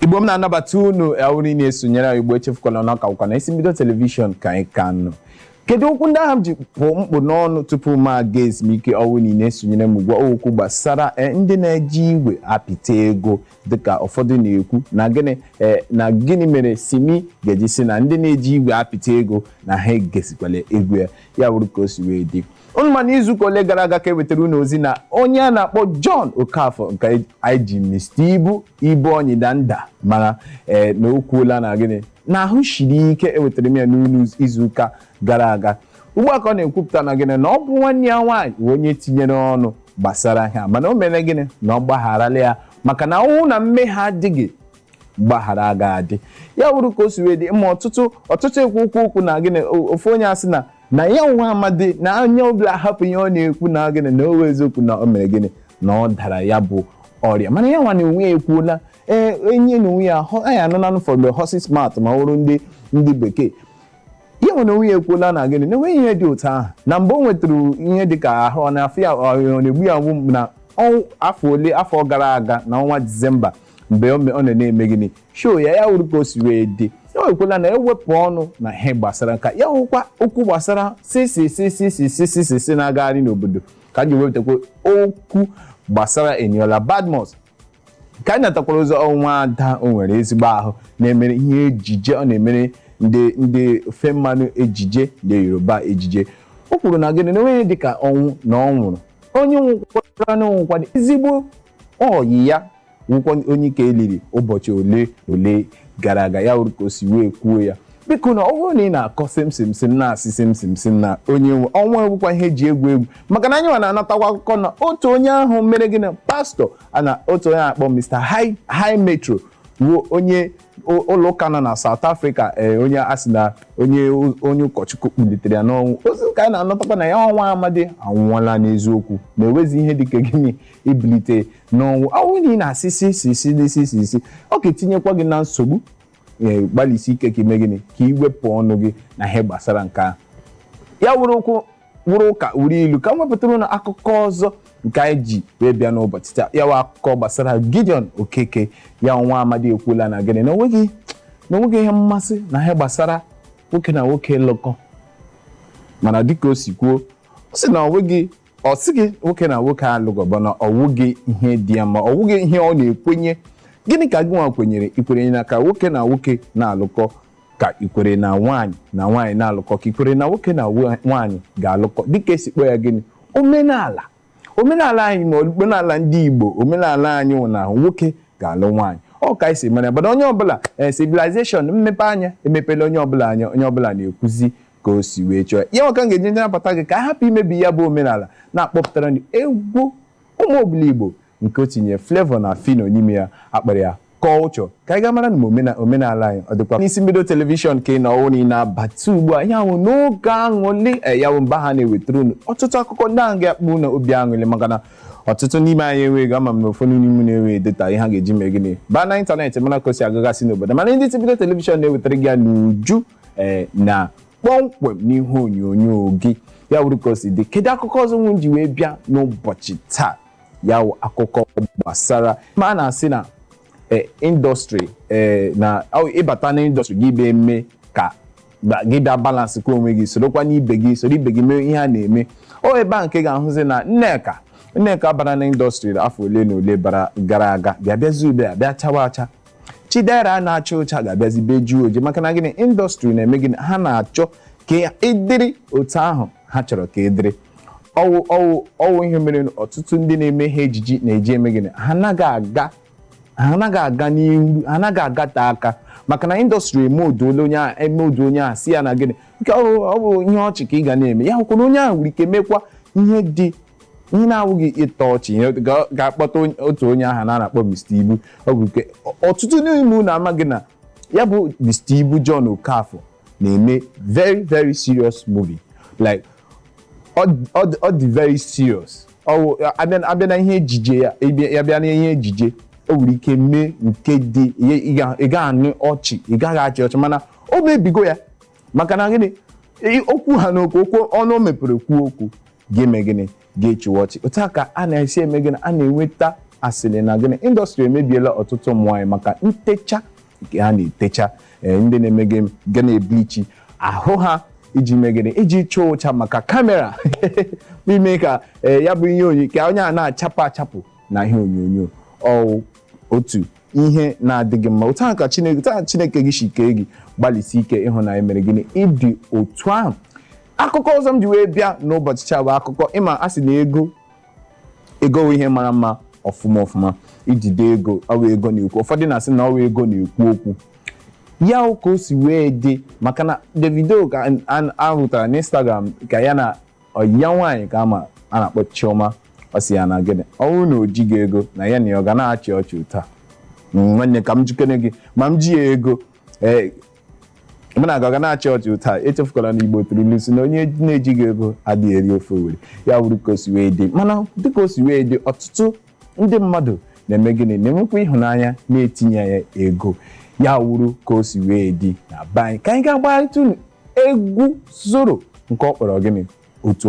igbo m na-anabata unu ọ wụrụ na-esonyere anyị igbo echefukwala na ọ ka wụkwa na isi mbido telivishọn ka anyị ka nọ kedu okwu ndị ahụ m ji pụ m kpụ n'ọnụ tupu m aga ezumike ọ wụ na ị na-esonyere m gwa okwu gbasara eh, ndị na-eji igwe apịta ego dịka ụfọdụ na-ekwu na gịnị eh, na gịnị mere simi ga-eji sị na ndị na-eji igwe apịta ego na ha egesikwala egwu ya ya wụrụ ka o si wee dị Unu ma na izuụka ole gara aga ka e wetara unu ozi na onye a na-akpọ John Okafor nke anyị ji Mr. Ibu Ibu Anyị Danda mara ee na o kwuola na gịnị na ahụ siri ike ewetara m ya n'ụlọ izuụka gara aga ugbu a ka ọ na-ekwupụta na gịnị na ọ bụ nwanne ya nwaanyị bụ onye tinyere ọnụ gbasara ha mana o mere gịnị na ọ gbagharala ya maka na ọ wụ na mmehie adịghị mgbaghara agaghị adị ya wụrụ ka o si wee dị ma ọtụtụ ọtụtụ ekwu okwu okwu na gịnị o- ofu onye asị na na ya nwa amadi na onye ọbụla hapụ ihe ọ na-ekwu na gịnị na ọ wụ eziokwu na o mere gịnị na ọ dara ya bụ ọrịa mana ya nwa na onwe ya ekwuola ee enye na onwe ya ahụ anyị anụla from the horses mouth ma ọ wụrụ ndị ndị bekee ya nwa na onwe ya ekwuola na gịnị na enweghị ihe dị otu ahụ na mgbe o nwetara ihe dị ka ahụ ọ na-afụ ya ọ na-egbu ya mgbu na afọ ole afọ gara aga na ọnwa disemba mgbe ọ me- ọ nọ na-eme gịnị show ya ya wụrụ ka o si wee dị ya wekwela na ewepụ ọnụ na ihe gbasara nke a ya wụkwa okwu gbasara sisisisisisisisi na-agagharị n'obodo ka m ji wepụtakwa okwu gbasara eniola badmus ka anyị natakwara ozi nwa ada o nwere ezigbo ahụ na-emere ihe ejije ọ na-emere ndị ndị ofe mmanụ ejije ndị yoruba ejije o kwuru na gịnị na o nweghị dịka ọnwụ na ọ nwụrụ onye nwụkwara na ọ wụkwa ezigbo Ọyị ya wụkwa onye nke e liri ụbọchị ole na ole gara aga ya wụrụ ka o si wee kwuo ya biko na ọ bụrụ na ị na-akọ simsim sim na-asị simsim sim na onye nwe ọnwụ awụkwa ihe e ji egwu egwu maka na anyị nwa na-anatakwa akụkọ na otu onye ahụ mere gịnị pastọ a na otu onye a kpọ Mr. High High Metro ruo onye ụlọ ụka nọ na South Africa ee onye a sị na onye onye ụkọchukwu kpọlitere ya n'ọnwụ ozi ka anyị na-anatakwa na ya nwa amadi anwụọla n'eziokwu na enwezi ihe dịka gịnị ibilite n'ọnwụ ọ wụ na ị na-asị si si si n'isi si isi ọ ga-etinyekwa gị na nsogbu ee gbalịsi ike ka i mee gịnị ka i wepụ ọnụ gị na ihe gbasara nke ahụ ya wụrụ okwu wụrụ ụka wụrụ ilu ka m wepụtara unu akụkọ ọzọ nke anyị ji wee bịa n'ụbọchị taa ya wụ akụkọ gbasara Gideon Okeke ya nwa amadi ekwuola na gịnị na onweghị na onweghị ihe mmasị na ihe gbasara nwoke na nwoke lụkọ mana dịka o si kwuo ọ sị na onweghị ọ sịghị nwoke na nwoke alụkọ bụ na ọ wụghị ihe dị ya mma ọ wụghị ihe ọ na-ekwenye gịnị ka gị nwa kwenyere i kwenye na ka nwoke na nwoke na-alụkọ ka i kwere na nwaanyị na nwaanyị na-alụkọ ka i kwere na nwoke na nwa- nwaanyị ga-alụkọ dịka e si kpọọ ya gịnị omenala omenala anyị ma omenala ndị igbo omenala anyị wụ na ọ wụ nwoke ga-alụ nwaanyị ọ ka anyị si mara ya mana onye ọbụla ee civilization mmepe anya emepela onye ọbụla anya onye ọbụla na-ekwuzi ka o si wee chọọ ya ya maka m ga-eji ndị nabata gị ka a hapụ imebi ya bụ omenala na-akpọpụtara ndị egwu Ụmụ Obiligbo nke o tinye Flavour na Phyno n'ime ya a kpọrọ ya Culture ka anyị ga-amara na omena- omenala anyị ọ dịkwa n'isi mbido telivishọn ka ị nọ ọ wụ na ị na-abata ugbu a ihe a wụ n'oge aṅụlị eh, ya bụ mgbe a na-ewetara unu ọtụtụ akụkọ ndị ahụ ga-akpa unu obi aṅụlị maka na ọtụtụ n'ime anyị enweghị ama m na ụfọdụ n'ime unu enweghị data ihe ha ga-eji mee gịnị baa na ịntanetị mara ka o si agagasị n'obodo mana ndị isi mbido telivishọn na-ewetara gị ya n'uju eh, na kpọmkwem n'ihe onyonyo gị ya wụrụ ka o si dị kedu akụkọ ọzọ nwe m ji wee bịa n'ụbọchị taa ya wụ akụkọ gbasara ma a na-asị na eh, indọstrị eh, na ọ ị bata na indọstrị gị bịa eme ka ba- gị bịa balansịkwa onwe gị sorokwa n'ibe gị soro ibe gị mee ihe a na-eme ọ ebe a nke ị ga-ahụzi na nneka nneka bara na indọstrị afọ ole na ole bara gara aga bịa bịazi ugbu a bịa chawa acha chidera na-acha ụcha ga-abịazi bịa jie oji maka na gịnị indọstrị na-eme gịnị ha na-achọ ka ị dịrị otu ahụ ha chọrọ ka ị dịrị ọ wụ ọ wụ ọ wụ ihe mere na ọtụtụ ndị na-eme ihe ejije na-eji eme gịnị ha anaghị aga ha anaghị aga n'ihu ha anaghị agate aka maka na indọstrị emoulduole onye ahụ emould onye ahụ sị ya na gịnị nke ọ bụ ọ bụ ihe ọchị ka ị ga na-eme ya hụkwa na onye ahụ nwere ike mekwa ihe dị ihe na-awụghị ịtọ ọchị ihe ga- ga-akpọta onye- otu onye ahụ a na-akpọ Mr. Ibu ọ bụ nke ọtụtụ n'ime unu amaghị na ya bụ Mr. Ibu John Okafor na-eme very very serious movie like ọ dị very serious a bịa na ihe ejije ya ya bịa na ihe ejije o nwere ike mee nke dị ị gaghị anụ ọchị ị gaghị achị ọchị mana o mebigo ya maka na gịnị okwu ha n'okwu okwu ọnụ o mepere kwuo okwu ga-eme gịnị ga-achịwa ọchị otu a ka a na-esi eme gịnị a na-enweta asịrị na gịnị indọstrị emebiela ọtụtụ ụmụ nwaanyị maka ntecha nke ha na-etecha ee, ndị na-eme gịnị ga na-eblichi ahụ ha iji mee gịnị iji chaa ụcha maka kamera bụ ime ka ee, ya bụ ihe onyonyo ka onye a na-achapụ achapụ na ihe onyonyo ọ otu ihe na-adịghị mma otu ahụ ka chineke otu ahụ chineke gị si kee gị gbalịsie ike ịhụ na i mere gịnị ị dị otu ahụ akụkọ ọzọ m ji wee bịa n'ụbọchị taa bụ akụkọ ị ma a sị na ego ego ihe mara mma ọfụma ọfụma ijide ego ọ wụ ego na-ekwu ụfọdụ na-asị na ọ wụ ego na-ekwu okwu ya wụ ka o si wee dị maka na Davido ka an- an- a hụtara n'Instagram ka ya na ọyị ya nwaanyị ka ama a na-akpọ Chioma ọ sị ya na gịnị ọ bụrụ na o jighị ego na ya na ya ọ ga na-achị ọchị otu a nwanne ka m jụkene gị ma m ji ya ego ee mana a ga na-achị ọchị ụta echefukwala na igbo tụrụ ilu sị na onye na-ejighị ego adịghị eri ofe owere ya wụrụ ka o si wee dị mana dịka o si wee dị ọtụtụ ndị mmadụ na-eme gịnị na-enwekwa ịhụnanya na-etinye ya ego ya wụrụ ka o si wee dị na be anyị ka anyị ga-agbarịta unu egwu zoro nke ọ kpọrọ gịnị otu